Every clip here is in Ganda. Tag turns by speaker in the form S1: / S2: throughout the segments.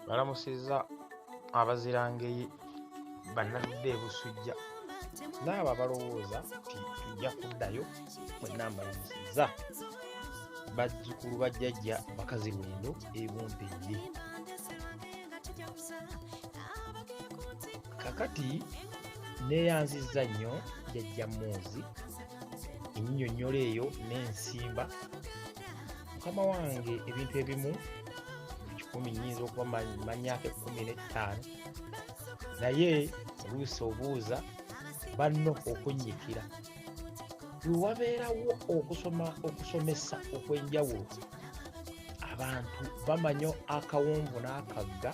S1: balamusizza abazirangeyi bannaludde ebusujja naabo abalowooza nti tujja kuddayo mwenna mbalamusizza bazzukulu bajjajja bakazi lwendo ebumpejje kakati neyanzizza nnyo jajja muuzi enyinyonnyola eyo n'ensimba mukama wange ebintu ebimu kikumi nyinza okuba manyako ekumi n'ettaano naye oluusi obuuza banno okunnyikira wewabeerawo okusoma okusomesa okw'enjawulo abantu bamanyo akawonvu n'akagga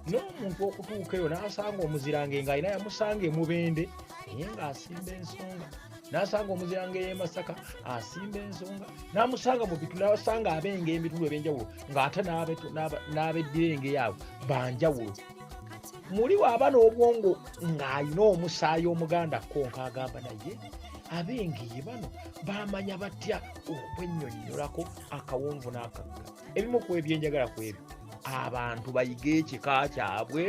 S1: n'omuntu okutuuka eyo n'asanga omuzirange nga alina yamusanga emubende naye ng'asimba ensonga n'asanga omuzirange y'emasaka asimba ensonga n'amusanga mu bitu n'asanga abenga emitulu eb'enjawulo ng'ate n'abeddira engeyo abo banjawulo muli waaba n'obwongo ng'alina omusaayi omuganda konka agamba naye ab'engeye bano bamanya batya okwennyonnyolako akawonvu n'akagga ebimu ku ebyenjagala ku ebyo abantu bayige ekika kyabwe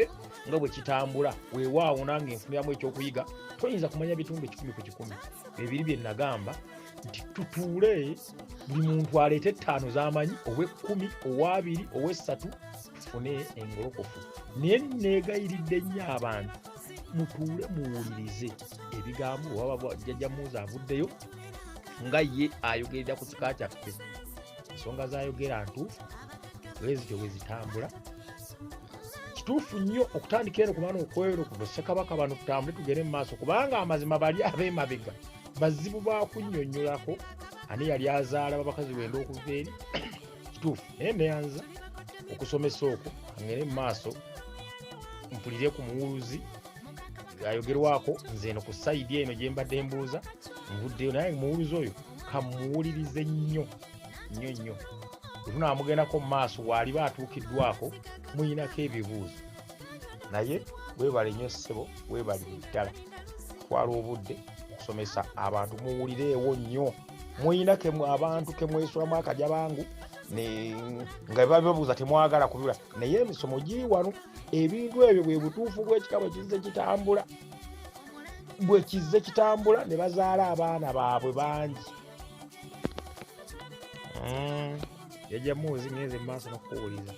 S1: nga bwe kitambula weewaawo nange nfuniramu ekyokuyiga toyinza kumanya bitundu ekikumi ku kikumi ebiri bye nagamba nti tutuule buli muntu aleeta ettaano z'amanyi ow'ekkumi ow'abiri ow'essatu tufune engolokofu naye neegayiridde nnyo abantu mutuule muwulirize ebigambo oba jjajja muuzi avuddeyo nga ye ayogerera ku kika kyaffe ensonga zayogera ntuufu bwezityo bwezitambula kituufu nnyo okutandika eno kubana okwero ku bassekabaka bano tutambule tugere mu maaso kubanga amazima bali ab'emabega bazibu bakunyonyolako ani yali azaala babakazi wenda okuva eri kituufu naye neyanza okusomesa okwo angere mu maaso mpulire ku muwuluzi ayogerwako nze eno ku sayidi eno gyembadde mbuuza nvuddeyo naye muwuluzi oyo kamuwulirize nnyo nnyo nnyo bwetunaamugendako mu maaso waaliba atuukiddwako muyinako ebibuuzo naye webale nnyo ssebo webalire ddala twala obudde okusomesa abantu muwulireewo nnyo muyina abantu kemwesulamu akaja bangu nga bababuuza temwagala kubibula naye emisomo giri wano ebintu ebyo bwe butuufu bwekikaba kizze kitambula bwe kizze kitambula ne bazaala abaana baabwe bangi hmm. yajamuuzi ngenze mu maaso nokukuwuliza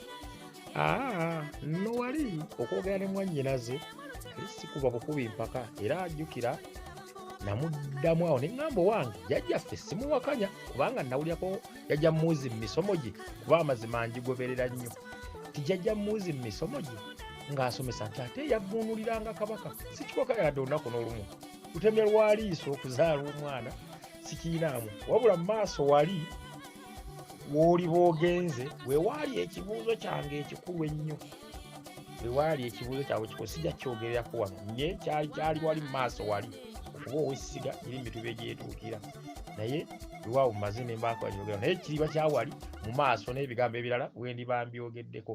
S1: ah, no wali okwogera ne mwannyinaze sikuba bukubi mpaka era ajjukira namuddamu awo neŋŋamba owange jajjaffe simuwakanya kubanga nawulyako jajja muuzi mu misomo gye kuba amazima njigoberera nnyo tijajja muuzi mu misomo gye ng'asomesa nti ate yavvuunuliranga kabaka sikikoka yadde olunaku n'olumu lutemya lwaliiso okuzaala omwana sikiinaamu wabula mu maaso wali wooli boogenze wewaali ekibuuzo kyange ekikulu ennyo wewaali ekibuuzo kyabwe kikulu sijja kyogererako wano naye kyali kyali wali mu maaso wali okuba owessiga eri mu mituba egyetuukira naye lwawo mumaze nembaako agyogera naye kiriba kyawali mu maaso n'ebigambo ebirala wendi bambyogeddeko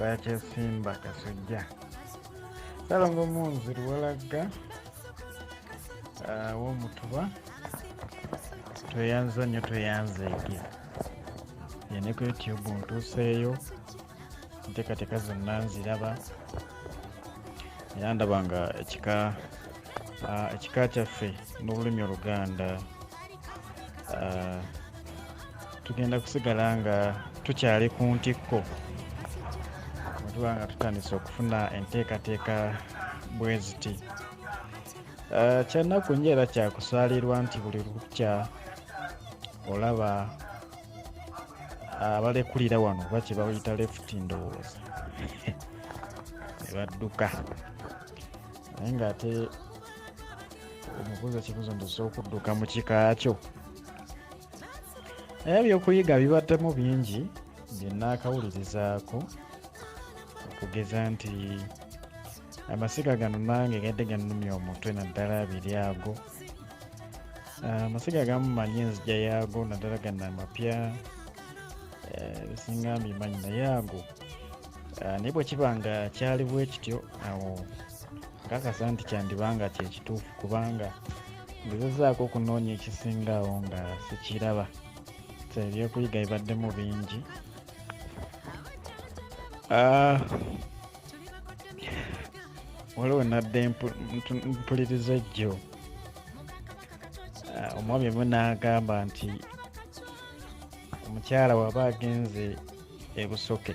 S2: bakyasimba kasujja salongo munzi luwalagga ah, womutuba tweyanza nnyo tweyanza ege yene ku youtube ntuuseeyo enteekateeka zonna nziraba era ndaba nga ekika ah, ekika kyaffe n'olulimi oluganda uh, tugenda kusigala nga tukyali ku ntikko tuba nga tutandise okufuna enteekateeka bwe ziti uh, kyannaku nyo era kyakusaalirwa nti buli lukya olaba abalekulira wano oba kyebayita lefuti ndowooza ne badduka naye ng'ate omubuuza ekibuuzo ndoza okudduka mu kika kyo naye ebyokuyiga bibaddemu bingi byenaakawulirizaako okugeza nti amasiga gano nange gadde ganumya omutwe naddala abiri ago ah, amasiga agamu manyi enzija yaago naddala gano amapya eh, bisinga mbimanyi naye ago Ah, naye bwekiba nga kyali bwekityo awo nkakasa nti kyandiba nga kyekituufu kubanga ngezezaako okunoonya ekisinga awo nga sikiraba so ebyokuyiga bibaddemu bingi ah, waliwo nadde mpuliriza ejjo ah, omwami emu n'agamba nti omukyala waba agenze ebusoke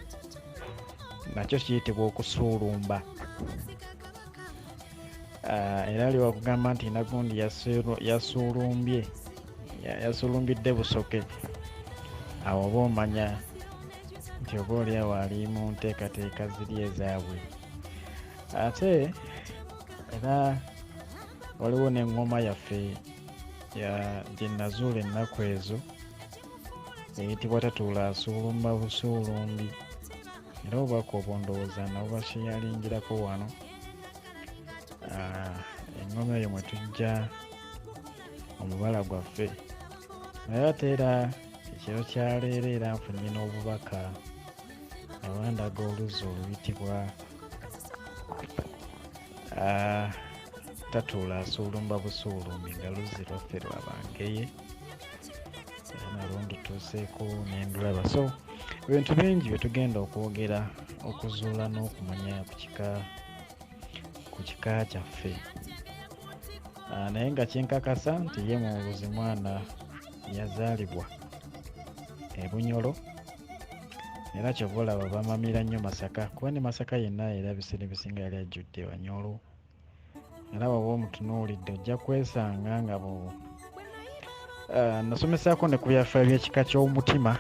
S2: nakyo kiyitibwa okusuulumba ah, era ali wakugamba nti nagundi yasuulumbye yasuulumbidde busoke awo oba omanya nti oba oliawo ali mu nteekateeka ziri ezaabwe ate era waliwo n'eŋŋoma yaffe gye nazuula ennaku ezo eyitibwa tatuula asuulumba busuulumbi era obubaka obundowooza nabo basheyalinjirako wano ah, engoma eyo mwe tujja omubala gwaffe naye ate era ekiro kyaleero era nfunye n'obubaka abandaga oluzzi oluyitibwa ah, tatuula asuulumba busuulumbi nga luzzi lwaffe lwabangeye ntuuseeko nendulaba so ebintu bingi byetugenda okwogera okuzuula n'okumanya ku kika kyaffe ah, naye nga kinkakasa nti ye mubuzi mwana yazaalibwa ebunyolo era kyova olaba bamamira nnyo masaka kuba ne masaka yenna era ebiseera ebisinga yali ajjudde banyolo era waba omutunuulidde ojja kwesanga nga bu ah, nasomesaako ne ku byafaayo by'ekika ky'omutima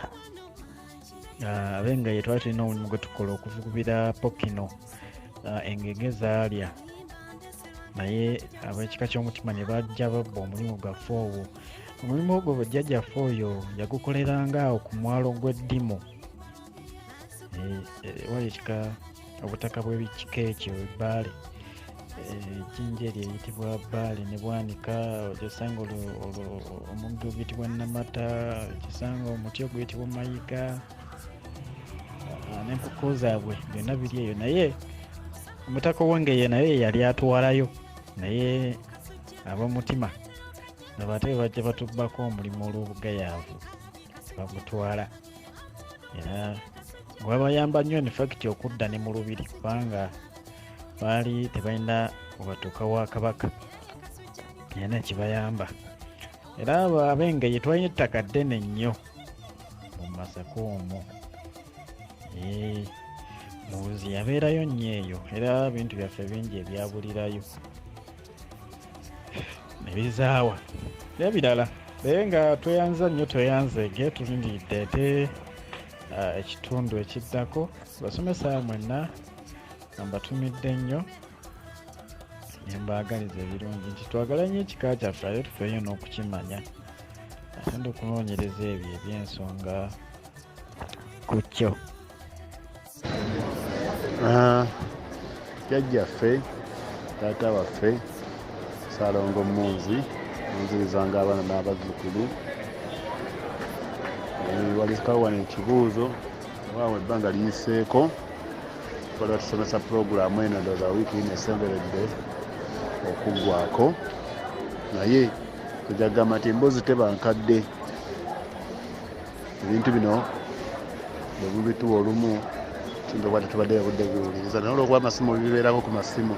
S2: ah, abe nga ye twali tulina omulimu gwe tukola okuvugubira pokino ah, engege zaalya naye ab'ekika ky'omutima ne bajja babba omulimu gwaffe ogwo omulimu ogwo bwejjajjaffe oyo yagukoleranga awo ku mwalo gw'eddimu eh, eh, wali ekika obutaka bw'ekika ekyo ebbaale ejjinja eryo eyitibwa bbaale ne bwanika ogisanga omuddo oguyitibwa namata ogisanga omuti oguyitibwa mayiga n'enkoko zaabwe byonna biri eyo naye omutaka owengeye naye yali atwalayo naye abamutima nabate bajja batubbako omulimu olw'obugayaavu bamutwala gwabayamba nnyo infacti okudda ne mu lubiri kubanga baali tebalina webatuuka wa kabaka era nekibayamba era abo abengeye twalina ettaka ddene nnyo mu masaka omwo muzi yabeerayo nnyo eyo era bintu byaffe bingi ebyabulirayo nebizaawa nebirala naye nga tweyanza nnyo tweyanzeege tulindiridde ate uh, ekitundu ekiddako basomesa mwenna mbatumidde nnyo nembaagaliza ebirungi nti twagala nnyo ekika kyaffe ate tufeeyo n'okukimanya ate ndi okunoonyereza ebyo ebyensonga ku kyo Ah,
S3: jajjaffe taata waffe salongo munzi munzirizanga abaana n'abazzukulu eh, walizikawo wano ekibuuzo waawo ebbanga liyiseeko bali batusomesa pulogulaamu eno ndoza wiiki ino esemberedde okuggwako naye ejagamba nti emboozi tebankadde ebintu bino bwe mubituwa olumu tuyinza okuba tetubadde obudde biwuliriza naye olwokuba amasimu bibeerako ku masimu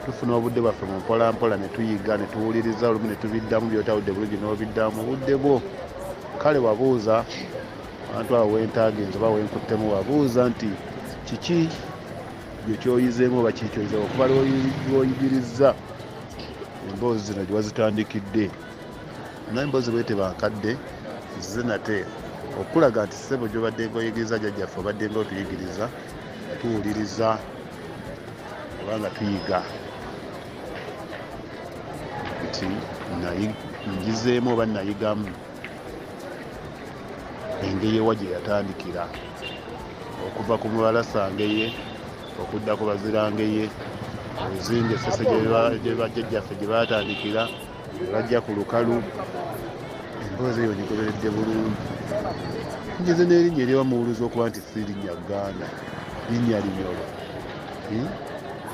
S3: tufuna obudde bwaffe mu mpolampola ne tuyiga ne tuwuliriza olumu ne tubiddamu byotawudde bulungi n'obiddamu mu budde bwo kale wabuuza abantu abo wentaagenza oba wenkuttemu wabuuza nti kiki gye kyoyizeemu oba kiki kyoyizeemu okuba lwoyigirizza emboozi zino gye wazitandikidde naye mbozi bwete bankadde zize nate okulaga nti ssebo gyobadde ngoyigiriza jajjaffe obadde nga otuyigiriza tuwuliriza oba nga tuyiga nti njizeemu oba nayigamu engeri ewa gye yatandikira okuva ku mubalasangeye okudda ku bazirangeye obuzinga esese gyebajjajjaffe gye batandikira bajja ku lukalu emboozi eyo ngigoberedde bulungi ngeze n'erinnya eriwa muwuluzi okuba nti si linnya ganda linnya linyolo hmm?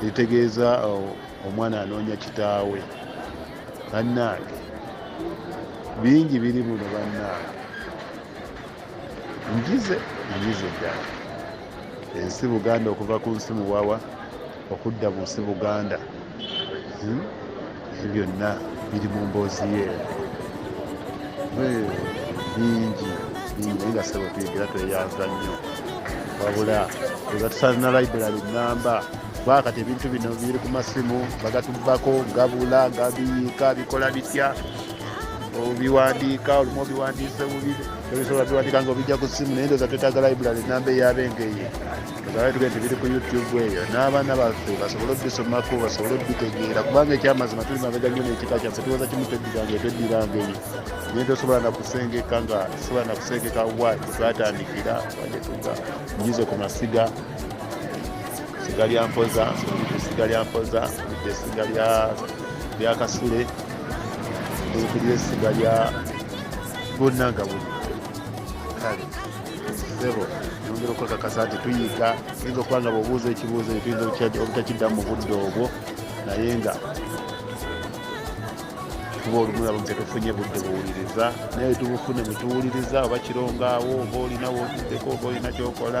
S3: eritegeeza oh, omwana anoonya kitaawe bannaage bingi biri muno bannaage njize njize ddala ensi buganda okuva ku nsi muwawa okudda mu nsi buganda hmm? ebyo byonna biri mu mboozi ye bingi bingi nga sebo tuyigira tweyanza nnyo wabula ega tusalina library namba kuba kati ebintu bino biri ku masimu bagatubbako gabula gabiyiika bikola bitya obiwandiika olumu obiwandiise bubi ebisobola biwandiika nga obijja ku simu naye ndoza twetaaga library namba eyabengeye ozabaye tugee tebiri ku youtube eyo n'abaana baffe basobole obisomako basobole obitegeera kubanga ekyamazima tuli mabega nyo nekika kyaffe tuwoza kimu tweddiranga etweddirangeye naye tosobola nakusengeka nga sobola nakusengeka wa twatandikira wajetuga nyize ku masiga siga lya mpoza siga lya mpoza esiga lya byakasule okulira essiga lya gonna nga buli kale sebo yongera okwekakasa nti tuyiga tuyinza okuba nga bweobuuza ekibuuzo tuyinza obutakiddamu mu budde obwo naye nga kuba olumulamu nti tufunye budde buwuliriza naye tubufune bwetuwuliriza oba kirongaawo oba olina wotuddeko oba olina kyokola